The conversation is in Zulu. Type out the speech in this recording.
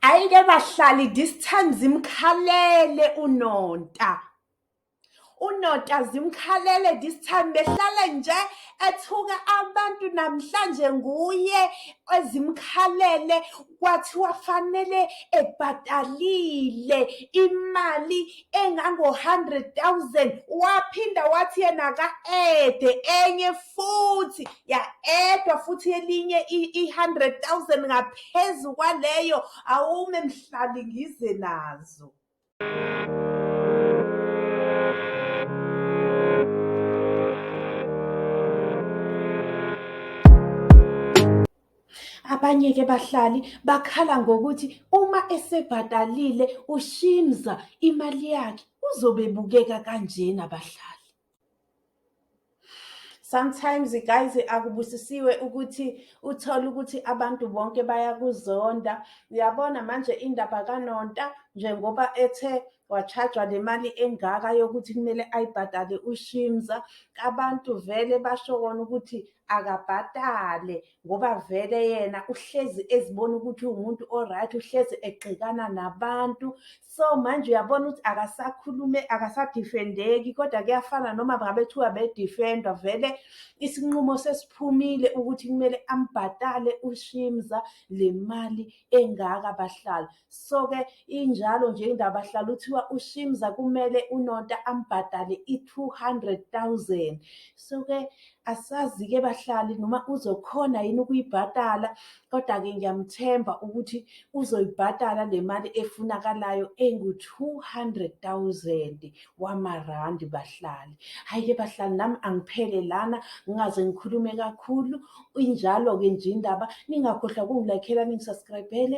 Ayike bahlali this time zimkhalele uNonta. UNonta zimkhalele this time behlale nje ethuka abantu namhlanje nguye ezimkhalele kwathiwa fanele ebhatalile imali engango-100,000 waphinda wathi yena ka-ede enye futhi ya-edwa futhi elinye i-100,000 ngaphezu kwaleyo awume mhlali ngize nazo Abanye-ke bahlali bakhala ngokuthi uma esebhatalile uShimza imali yakhe uzobe ebukeka kanjena abahlali. Sometimes guys akubusisiwe ukuthi uthole ukuthi abantu bonke bayakuzonda. Uyabona manje indaba kaNonta njengoba ethe wachajwa nemali engaka yokuthi kumele ayibhadale ushimza abantu vele basho kona ukuthi akabhatale ngoba vele yena uhlezi ezibona ukuthi uwumuntu oright uhlezi egxikana nabantu so manje uyabona ukuthi akasakhulume akasadifendeki kodwa kuyafana noma ngabethiwa bedifendwa vele isinqumo sesiphumile ukuthi kumele ambhatale ushimza le mali engaka bahlala so-ke injalo nje indaba hlala uthiwa ushimza kumele unonta ambhadale i-two hundred thousand so-ke asazi-ke bahlali noma uzokhona yini ukuyibhadala kodwa-ke ngiyamthemba ukuthi uzoyibhadala le mali efunakalayo engu-two hundred thousand wamarandi bahlali hhayi-ke bahlali nami angiphele lana ngingaze ngikhulume kakhulu injalo-ke nje indaba ningakhohlwa kungilakhela ningisaskrayibhele